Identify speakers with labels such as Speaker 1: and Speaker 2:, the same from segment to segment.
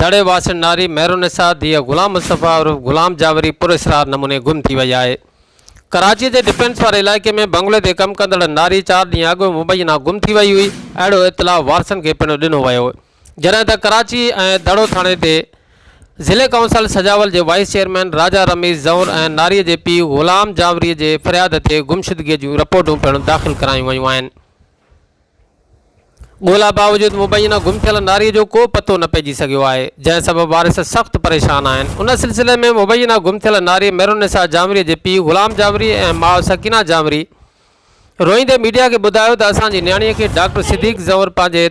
Speaker 1: دڙي واسين ناري مهرالنساء ڌيء غلام مصطفيٰ عرف غلام جاوري پراسرار نموني گم ٿي وئي آهي. ڪراچي جي ڊفينس واري علائقي ۾ بنگلي تي ڪم ڪندڙ ناري چار ڏينهن اڳ مبينا گم ٿي وئي هئي، اهڙو اطلاع وارثن کي پڻ ڏنو ويو، جڏهن ته ڪراچي ۽ دڙو ٿاڻي تي ضلعي ڪائونسل سجاول جي وائيس چيئرمين راجا رميز زئور ۽ ناري جي پيء غلام جاوري جي فرياد تي گمشدگي جون رپورٽون پڻ داخل ڪرايون ويون آهن. ڳولا باوجود مبينا گم ٿيل ناري جو ڪو پتو نه پئجي سگهيو آهي، جنهن سبب وارث سخت پريشان آهن. ان سلسلي ۾ مبينا گم ٿيل ناري ميرالنساء جانوري جي پيء غلام جانوري ۽ ماء سڪينه جانوري روئيندي ميڊيا کي ٻڌايو ته اسان جي نياڻي کي ڊاڪٽر صديق زئور پنهنجي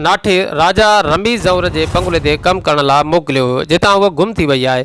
Speaker 1: ناٺي راجا رمي زئور جي بنگلي تي ڪم ڪرڻ لاء موڪليو هيو جتان هوء گم ٿي وئي آهي.